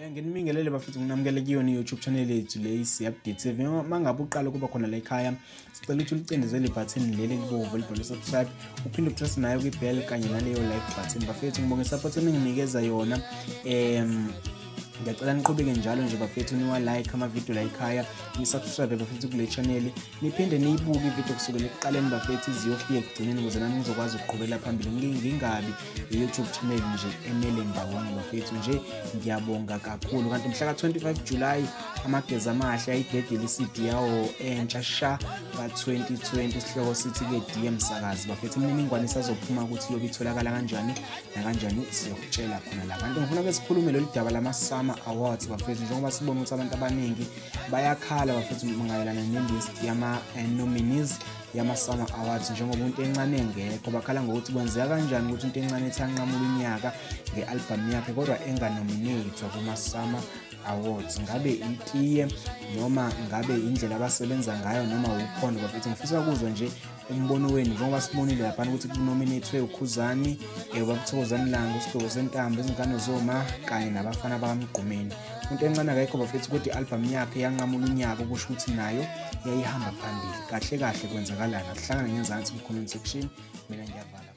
Eh, nginibingelele bafethu nginamukele kuyona i-youtube channel yethu le isi-update tv uma ngabe uqala ukuba khona la ekhaya sicela ukuthi ulicindezele ibhathini leli elibovu elibhalwe subscribe uphinde upress nayo kwi-bell kanye naleyo like button bafethu ngibonge support eninginikeza yona um ngiyacela niqhubeke njalo nje bafethu niwa-like amavidiyo la ekhaya nisubscribe bafethu kule chaneli niphinde niyibuke ividiyo kusukela ekuqaleni bafethu iziyofika ekugcineni ukuze nami ngizokwazi ukuqhubela phambili ngingabi i-youtube channel nje emele ndawonye bafethu nje ngiyabonga kakhulu kanti mhla ka-25 julayi amagezi amahle ayidedele i-cd yawo entsha sha ka-2020 isihloko sithi-ke dm sakazi bafethu imininingwane isazophuma ukuthi iyobe itholakala kanjani nakanjani siyokutshela khona la kanti ngifuna ke sikhulume lolu daba lama-summer awards bafethu njengoba sibona ukuthi abantu abaningi bayakhala bafethu mayelana ne-list yama-nominees eh, yama-summer awards njengoba umuntu encane engekho bakhala ngokuthi kwenzeka kanjani ukuthi into encane ethi anqamula unyaka nge-albhamu yakhe kodwa enganominethwa kuma-summer awards ngabe itiye noma ngabe indlela abasebenza ngayo noma ukhona bafethu ngifisa ukuzwa nje umbono wenu njengoba sibonile laphana ukuthi kunominethwe ukhuzani um babuthokozani langa usigqoko sentambo izingane zoma kanye nabafana bakamgqumeni into encane akayikho bafethu ukuthi i-albhamu yakhe yanqamula unyaka okusho ukuthi nayo yayihamba phambili kahle kahle kwenzakalana kuhlangane ngenzansi mkhuluni section mina ngiyavala